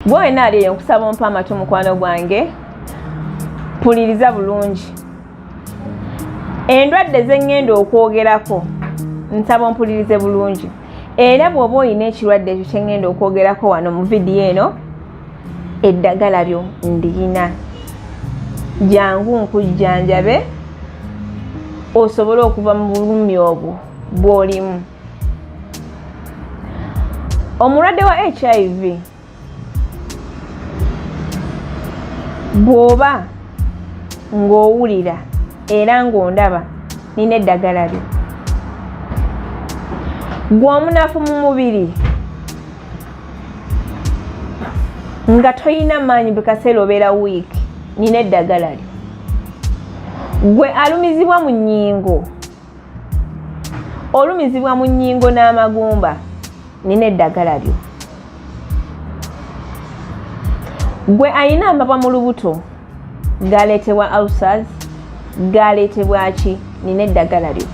gwe wena ali eyo nkusaba ompa amatu mukwano gwange mpuliriza bulungi endwadde zeŋŋenda okwogerako nsaba ompulirize bulungi era bw'oba olina ekirwadde ekyo kyeŋŋenda okwogerako wano mu vidiyo eno eddagala lyo ndiyina jangu nkujjanjabe osobole okuva mu bulumi obwo bw'olimu omulwadde wa hiv bw'oba ng'owulira era ng'ondaba nina eddagala lyo gwe omunafu mu mubiri nga tolina maanyi bwe kaseera obeera wiiki nina eddagala lyo gwe alumizibwa mu nnyingo olumizibwa mu nnyingo n'amagumba nina eddagala lyo gwe ayina amabwa mu lubuto galeetebwa ausas galeetebwa ki nina eddagala lyo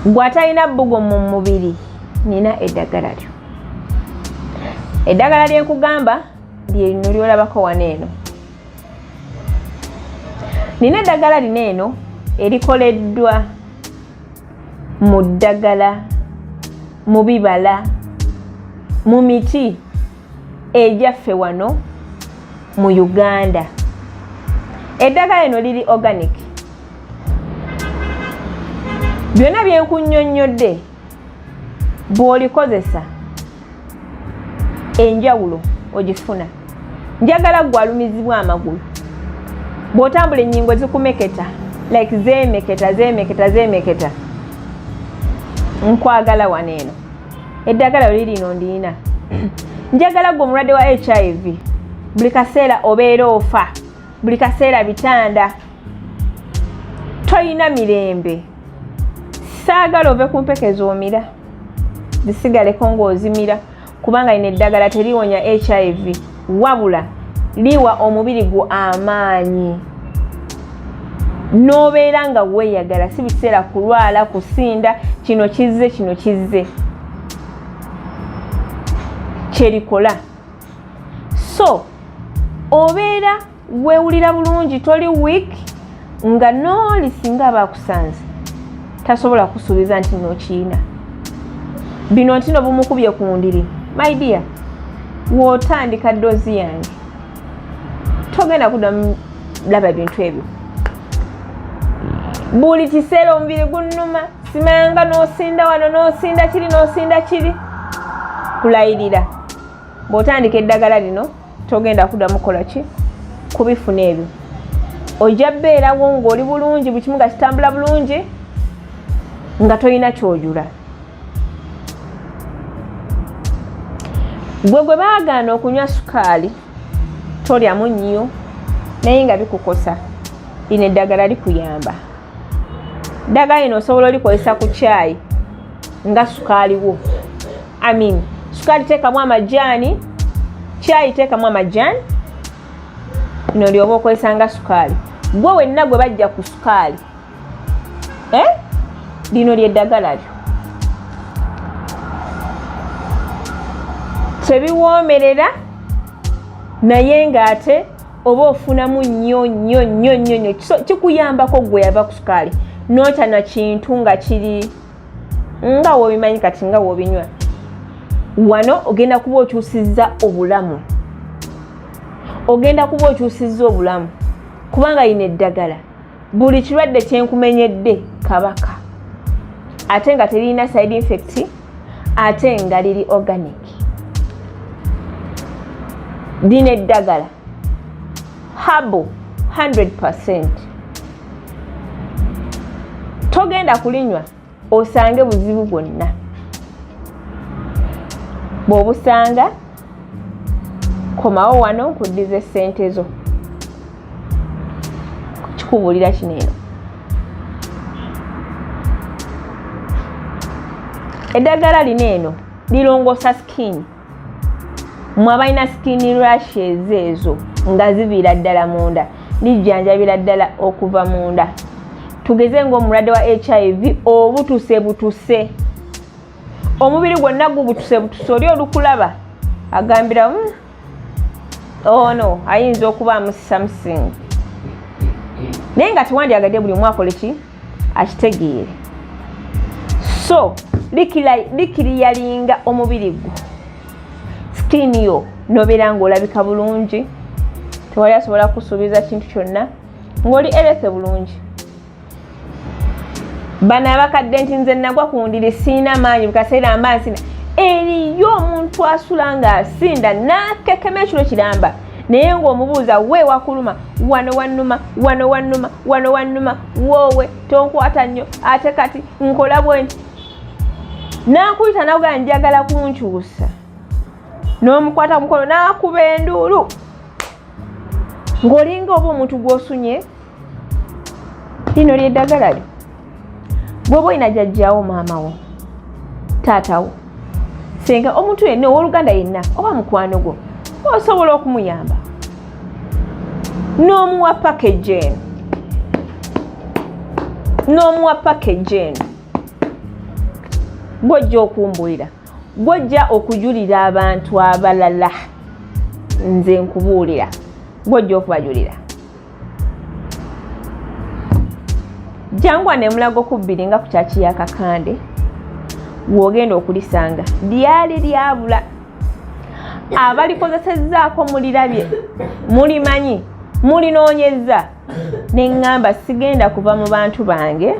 gwe atalina bbugo mu mubiri nina eddagala lyo eddagala lyenkugamba lyerino lyolabako wano eno nina eddagala lino eno erikoleddwa mu ddagala mu bibala mu miti egyaffe wano mu uganda eddagala lino liri organic byonna byenkunyonnyodde bw'olikozesa enjawulo ogifuna njagala gwe alumizibwa amagulu bw'otambula ennyingo zikumeketa like zeemeketa zeemeketa zeemeketa nkwagala wano eno eddagala oli lino ndiina njagala gwe omulwadde wa hiv buli kaseera obeera ofa buli kaseera bitanda toyina mirembe saagala ove ku mpeke zomira zisigaleko ng'ozimira kubanga lino eddagala teriwonya hiv wabula liwa omubiri gwo amaanyi n'obeera nga weeyagala si biseera kulwala kusinda kino kizze kino kizze kyerikola so obeera weewulira bulungi toli wiik nga nooli singa aba akusanze tasobola kusuubiza nti nokiina bino nti no bumukubye ku ndiri my dear wotandika doozi yange togenda kudamu laba bintu ebyo buli kiseera omubiri gunnuma simanga nosinda wano nosinda kiri nosinda kiri kulayirira bw'otandika eddagala lino togenda kuddamu kukola ki kubifuna ebyo ojja beerawo ng'oli bulungi buli kimu nga kitambula bulungi nga tolina kyojula gwe gwe baagaana okunywa sukaali tolyamu nnyo naye nga bikukosa lino eddagala likuyamba ddagala lino osobola olikozesa ku kyayi nga sukaaliwo Amin. Sukali teekamu amajaani, chai teekamu amajaani, bino lyoba okozesa nga sukaali. Gwe wenna gwe bajja ku sukaali eh? lino lyeddagala lyo tebiwoomerera naye ng'ate oba ofunamu nnyo nnyo nnyo nnyo nnyo kikuyambako gwe yava ku sukaali notya na kintu nga kiri nga wobimanyi kati nga wobinywa wano ogenda kuba okyusizza obulamu ogenda kuba okyusizza obulamu kubanga yina eddagala buli kirwadde kyenkumenyedde kabaka ate nga teririna side infect ate nga liri organic lina eddagala habo 100 percent togenda kulinywa osange buzibu bwonna bw'obusanga komawo wano nkuddize ssente zo kikubuulira kino eno eddagala lino eno lirongoosa sikini mwe abalina skin rashes ezo nga ziviira ddala munda lijjanjabira ddala okuva munda tugeze ngaomulwadde wa hiv obutuse butuse omubiri gwonna gubutuse butuse oli olukulaba agambira hmm, ono oh ayinza okubaamu something naye nga tewandyagadde buli omwakoleki akitegeere so likiriyalinga omubiri gwo skin yo nobeera ngaolabika bulungi tewali asobola kusuubiza kintu kyonna ngaoli erese bulungi bano abakadde nti nze nagwa ku ndiri siina maanyi bukaseera mba nsina eriyo omuntu asula ng'asinda n'akekema ekiro kiramba naye ng'omubuuza we wakuluma wano wannuma wano wannuma wano wannuma woowe tonkwata nnyo ate kati nkola bwe nti nankuyita nakugaa njagala kunkyusa n'omukwata mukono n'akuba enduulu ng'olinga oba omuntu gw'osunye lino lyeddagala lyo gwoba olina jajjawo maamawo taatawo senga omuntu yenna owoluganda yenna oba mukwano gwo osobola okumuyamba n'omuwa package eno n'omuwa package eno gwojja okumbulira gwojja okujulira abantu abalala nze nkubuulira gwojja okubajulira jangwa nemulago kubbiri nga ku kyaki ya kakande wogenda okulisanga lyali lyabula abalikozesezzaako mulirabye mulimanyi mulinoonyezza neŋŋamba sigenda kuva mu bantu bange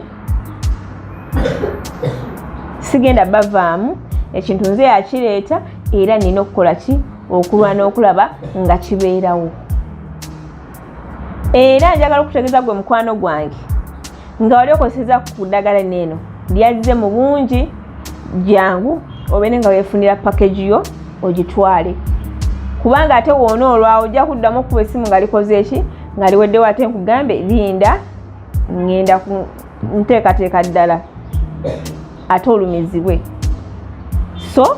sigenda bavaamu ekintu nze yakireeta era nina okukola ki okulwana okulaba nga kibeerawo era njagala okutegeeza gwe mukwano gwange nga wali okozeseza ku ddagala neeno lyazze mu bungi jangu obeere nga wefunira package yo ogitwale kubanga ate woona olwawo ojja kuddamu okuba essimu nga likoze eki nga liweddewo ate nkugambe linda ngenda nteekateeka ddala ate olumizibwe so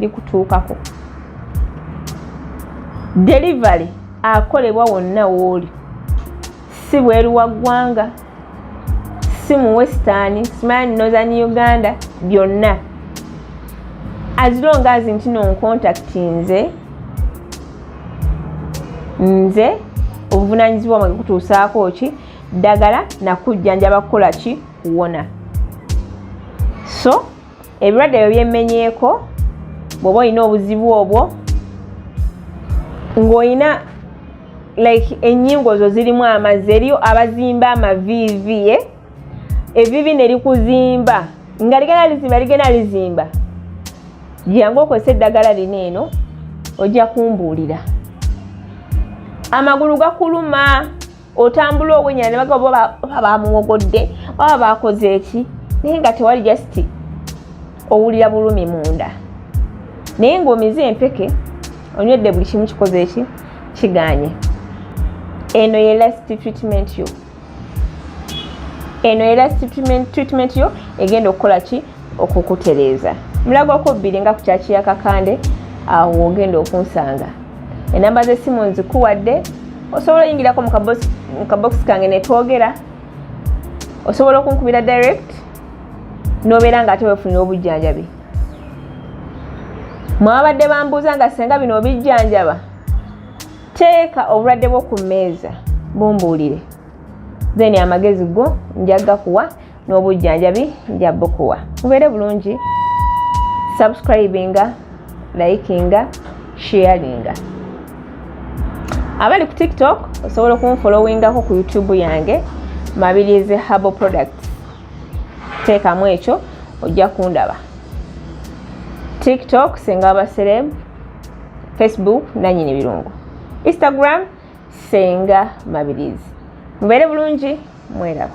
likutuukako delivery akolebwa wonna wooli si bweru wa ggwanga si mu western smile northern uganda byonna as long as nti no ncontact nze nze obuvunanyizibwa mwe kutuusaako ki ddagala nakujjanjaba kukola ki kuwona so ebirwadde ebyo byemmenyeeko bw'oba olina obuzibu obwo ng'olina like ennyingo zo zirimu amazzi eriyo abazimba amaviivi e eh? evivi ne likuzimba nga ligenda lizimba ligenda lizimba gyangu okozesa eddagala lino eno ojja kumbuulira amagulu gakuluma otambula owenya ne bagabo baba bamuwogodde baba bakoze eki naye nga tewali just owulira bulumi munda naye ng'omize empeke onywedde buli kimu kikoze eki kiganye eno ye last treatment yo eno ye last treatment yo egenda okukola ki okukutereeza mulago okubbiri nga ku kyaki ya kakande awo wogenda okunsanga enamba z'essimu nzikuwadde osobola oyingirako mu kabokisi kange netwogera osobola okunkubira direct nobeera nga ate wefunira obujjanjabi mwabadde bambuuza nga senga bino obijjanjaba teeka obulwadde bwo ku mmeeza bumbuulire then amagezi go njaga kuwa n'obujjanjabi nja bukuwa mubeere bulungi subscribinga likinga sharinga abali ku tiktok osobola okunfolowingako ku youtube yange mabirizi habo product teekamu ekyo ojja kundaba tiktok senga abasereb facebook nanyini birungu instagram senga mabirizi mubeere bulungi mweraba